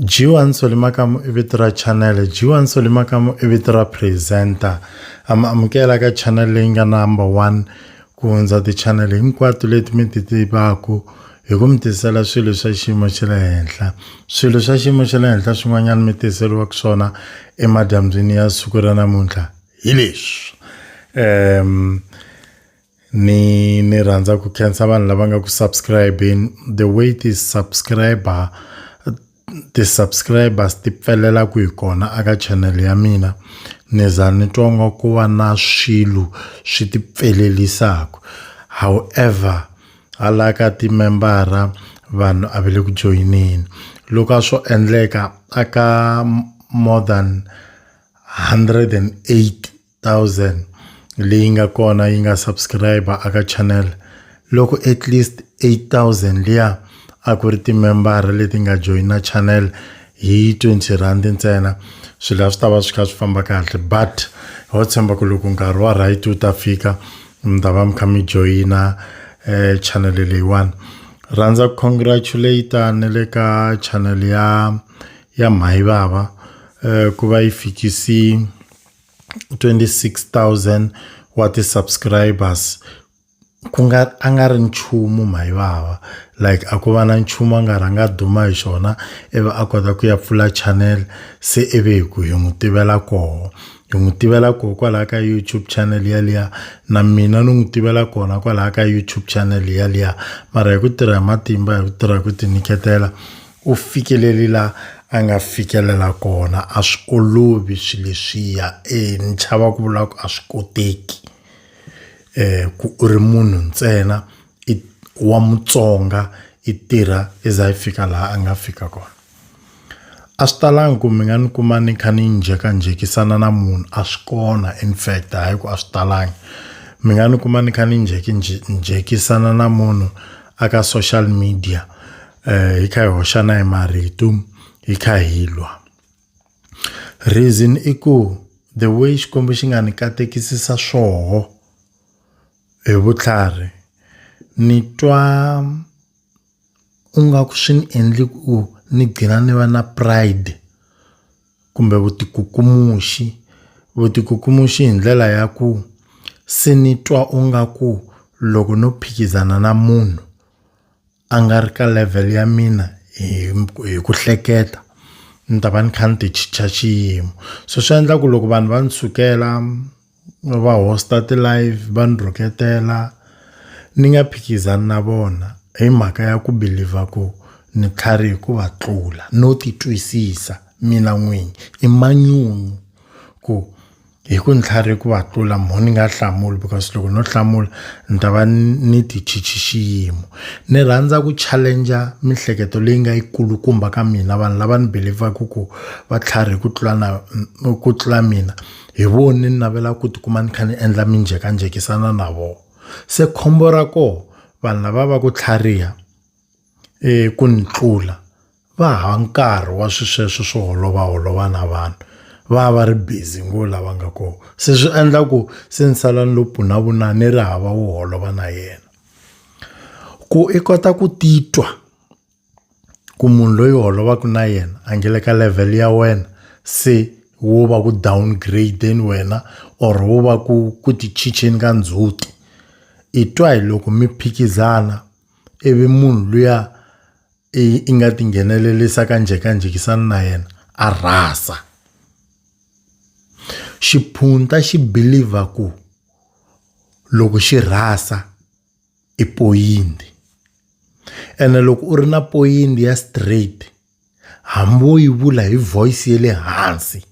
G1 Solimakamu i vito ra channel G1 Solimakamu i vito ra presenter ama amukela ka channel leyi nga number 1 ku hundza ti-channel hinkwato leti mi ti tivaku hi ku mi tisela swilo swa xiyimo xa le henhla swilo swa xiyimo xa le henhla swin'wanyana mi tiseriwaka swona emadyambyini ya siku ra namuntlha hi leswi um ni ni rhandza ku khensa vanhu lava nga ku subscribeni the way ti-subscriber ti-subscribers ti pfelela ku hi kona aka channel ya mina ni za ni twa nga ku va na swilo swi ti pfelelisaka however hala ka timembara vanhu a va le ku joyineni loko a swo endleka aka more than 108,000 leyi nga kona yi nga subscriber aka channel loko at least 8,000 liya a ku ri timembara leti nga joyina channel hi 20 rand ntsena swilo a swi ta va swi kha swi famba kahle but ho tshemba ku loko nkarhi wa right wu ta fika mi ta va mi kha mi joyina um channel leyiwani rhandza ku congratulata ni le ka channel ya ya Mhaivava ku va yi fikisi 26,000 wa ti-subscribers ku nga a nga ri nchumu Mhaivava like a ku va na nchumu a nga rhanga a duma hi xona ivi a kota ku ya pfula channel se ivi hi ku hi n'wi tivela koho hi n'wi tivela koho kwalaho ka YouTube channel yaliya na mina ni n'wi tivela kona kwalaho ka YouTube channel yaliya mara hi ku tirha hi matimba hi ku tirha hi ku tinyiketela U fikeleli la a nga fikelela kona a swi olovi swi leswiya ni chava ku vula ku a swi koteki ku u ri munhu ntsena i wa Mutsonga i tirha i za i fika laha a nga fika kona a swi talangi ku mi nga ni kuma ni kha ni njhekanjhekisana na munhu a swi kona in fact hayi ku a swi talangi mi nga ni kuma ni kha ni njhekanjhekisana na munhu a ka social media. eh, hi kha hi hoxana hi marito hi kha hi lwa reason i ku the way xikwembu xi nga ni katekisisa swoho hi vutlhari ni twa u nga ku swi ni endli ku ni gcina ni va na pride kumbe vutikukumuxi vutikukumuxi hi ndlela ya ku se ni twa u nga ku loko no phikizana na munhu a nga ri ka level ya mina hi hi ku hleketa ni ta va ni kha ni ti chicha xiyimo so swi endla ku loko vanhu va ni sukela va hosta ti live va ni rhuketela ni nga phikizani na vona hi mhaka ya ku believer ku ni tlhariha ku va tlula no ti twisisa mina n'wini i manyunyu ku. hi ku ntlhari ku va tlula mho ni nga hlamuli because loko no hlamula ni ta va ni tichichi xiyimo ni rhandza ku challenger mihleketo leyi nga yikulukumba ka mina vanhu lava ni believaku ku va tlhari hi ku tlula na ku tlula mina hi vo ni navela ku tikuma ni kha ni endla minjhekanjhekisana na vo se khombo ra ko vanhu lava va ku tlhariha ku ni tlula. va hava nkarhi wa swisweswo swo holova holova na vanhu va va ri busy ngo lava nga kona se swi endla ku se ni sala ni lo pfunavuna ni ri hava wo holova na yena ku i kota ku titwa ku munhu loyi holovaka na yena a nge le ka level ya wena se wo va ku downgrade wena or wo va ku ku ti chicheni ka ndzhuti i twa hi loko mi phikizana ivi munhu luya Eyi i nga tinghenelelisa ka njhekanjhekisano na yena a rhasa. Xiphunta xi believer ku loko xi rhasa i poyintsi ene loko u ri na poyintsi ya straight hambi wo yi vula hi voice ya le hansi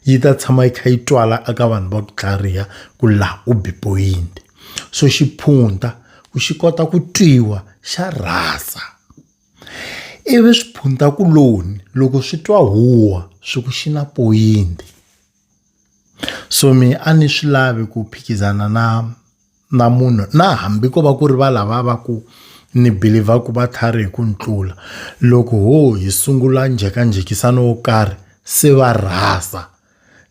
yi ta tshama yi kha yi twala eka vanhu va ku tlhariha ku laha u be poyintsi. so xiphunta ku xi kota ku twiwa xa rhasa ivi swiphuntakuloni loko swi twa huwa swi ku xi na poyinti so mi a ni swi lavi ku phikizana na na munhu na hambi ko va ku ri va lava va ku ni believer ku va tlhari hi ku ni tlula loko ho hi sungula njhekanjhekisano wo karhi se va rhasa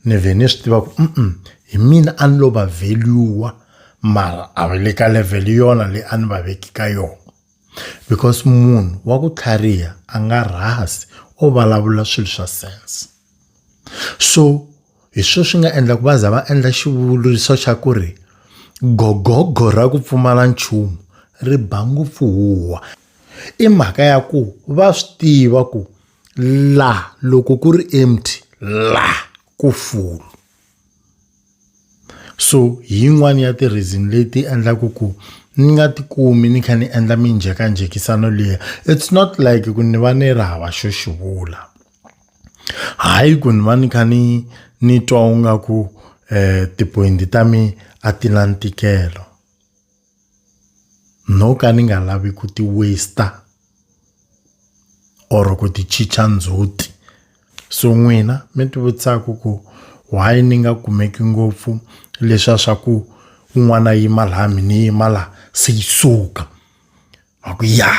ni vhe ni swi tiva ku mm hi mina a ni lo va value mara a va le ka level yona leyi a ni va veki ka yona because munhu wa ku tlhariha a nga rhasi o vulavula swilo swa sense so hi swona swi nga endla ku va za va endla xivuriso xa ku ri gogogo ra ku pfumala nchumu ri ba ngopfu huwa i mhaka ya ku va swi tiva ku. la loko ku ri empty la ku full so hi yin'wani ya ti-reason leti endlaku ku ni nga ti kumi ni kha ni endla minjhekanjhekisano liya it's not like ku ni va ni ri hava xo xi vula hayi ku ni va ni kha ni ni twa u nga ku ti-point ta mi a ti na ntikelo. no ka ni nga lavi ku ti waste or ku ti chicha ndzhuti so n'wina mi ti vutisaka ku why ni nga kumeki ngopfu leswa swa ku un'wana yima laha mi ni yima laha se yi suka va ku ya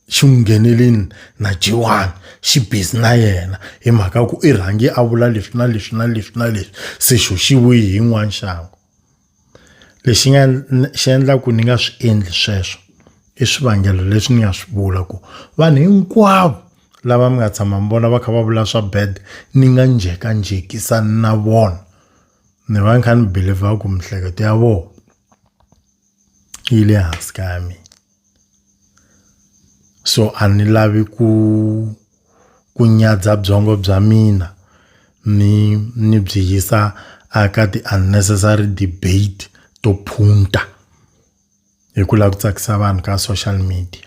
xi n'wi ngheneleni na Jewani xi busy na yena hi mhaka ku i rhange a vula leswi na leswi na leswi na leswi se xo xi vuyi hi yin'wani xangu. Lexi nga xi endlaku ni nga swi endli sweswo i swivangelo leswi ni nga swi vula ku vanhu hinkwavo lava mi nga tshama mi vona va kha va vula swa bad ni nga njhekanjhekisani na vona ni va ni kha ni believer ku mihleketo ya vona yi le hansi ka ya mina. so a ni lavi ku ku nyadza byongo bya mina ni ni byi yisa aka ti-unnecessary debate to phunta hi ku lava ku tsakisa vanhu ka social media